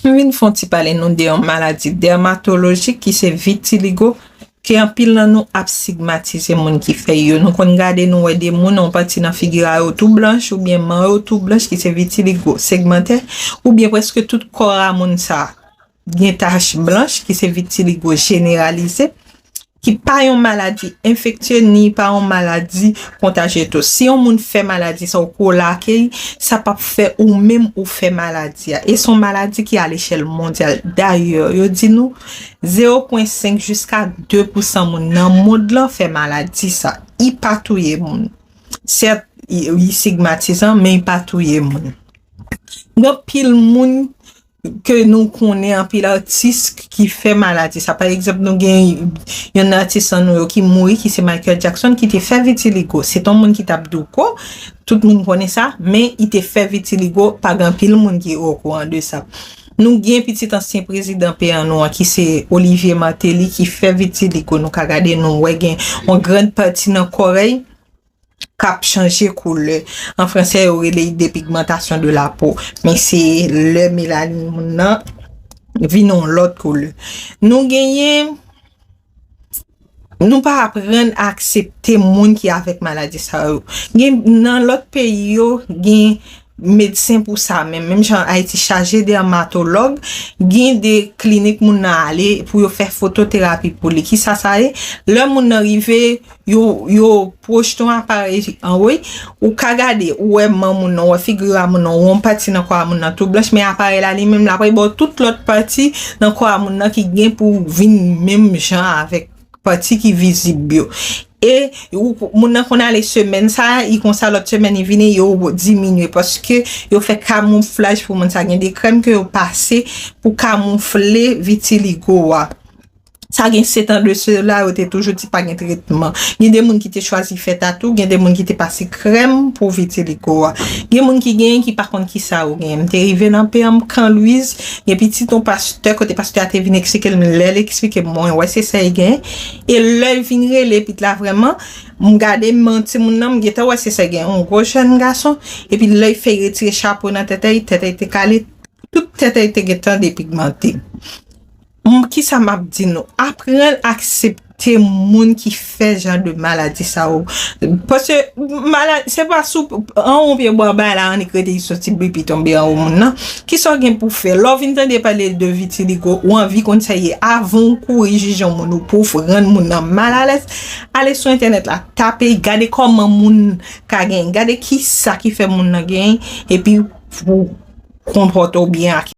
M vin fon ti pale nou de yon maladi dèmatolojik ki se vitiligo ke anpil nan nou ap sigmatize moun ki fè yo. Nou konn gade nou wè de moun yon pati nan figi a yo tou blanch oubyen man yo tou blanch ki se vitiligo segmantè oubyen preske tout kò a moun sa gen tach blanch ki se vitiligo jeneralize. Ki pa yon maladi enfektye ni pa yon maladi kontajye tou. Si yon moun fè maladi sa ou kolake li, sa p ap fè ou menm ou fè maladi a. E s on maladi ki alechèl mondyal. Dayè, yo di nou, zewo pwen senk jiska de pousan moun nan mond lan fè maladi sa. I pa touye moun. Sèt, i sigmatizan, men i pa touye moun. Gen anpil moun ke nou konnen anpil atis ki fè maladi sa. Pa egzanp nou gen yon nan atis an nou yo ki mouri ki se Michael Jackson ki te fè vitiligo. Se ton moun ki tap douko, tout moun konnen sa, men i te fè vitiligo pa gen anpil moun ki o kouran de sa. Nou gen pitit ansyen prezidan peyi an nou an ki se Olivier Martelly ki fè vitiligo. Nou ka gade nou wè gen yon gran pati nan korèy k ap chanje koulè. An fransè yo rele li depigmantasyon de la po. Men se lè melanin moun nan vin yon lòt koulè. Nou genyen, nou pa aprann aksepte moun ki avèk maladi sa yo. Gen nan lòt peyi yo gen. medsen pou sa menm, menm jan Ayiti chaje dèmatològ, gen de klinik moun nan ale pou yo fè fototerapi pou li. Ki sa sa ye? Lè moun nan rive, yo pwojte yon aparèy an wo, ou ka gade, ou wè man moun nan, ou wè figi a moun nan, ou wè yon pati nan kò a moun nan tou blanch, men aparèy la li menm l ap bay ba w tout lòt pati nan kò a moun nan ki gen pou vin menm jan avèk. pati ki vizib yo. E moun nan konn ale semèn sa, i konsa lòt semèn i vini yo diminye paske yo fè kamouflaj pou moun sa. Gen de krèm ke yo pase pou kamoufle vitiligo a. Sa gen setan de se la yo te toujou di pa gen tretman. Gen de moun ki te chwazi fè tatou, gen de moun ki te pase krèm pou vitiligo a. Gen moun ki gen ki pa konn ki sa yo gen. M te rive nan PM Can Louise. Gen pitit yon pastè kote pastè a te vin eksplike m lè l eksplike m mwen wè se sa e gen e lè l vin rele pit la vrèman m gade m an timoun nan m gentan wè se sa e gen yon gwo jèn gason epi lè l fè retire chapo nan tete l tete l te kale tout tete l te gentan depigmante m kisa m ap di nou aprann aksepte. te moun ki fè jan de maladi sa yo. Paske maladi, se pa sou anwo yon pye bwa bay la annik rete li soti bri pi tonbe anwo moun nan. Kisa w gen pou fè? Lè w vin tande pale de vitiligo, ou anvi konn sa ye. Avan w kouri jije yon moun ou pou w rann moun nan mal alèz, ale sou entènèt la, tape, gade kòman moun ka genyen, gade kisa ki fè moun nan genyen, epi pou w konpòte w byen ak.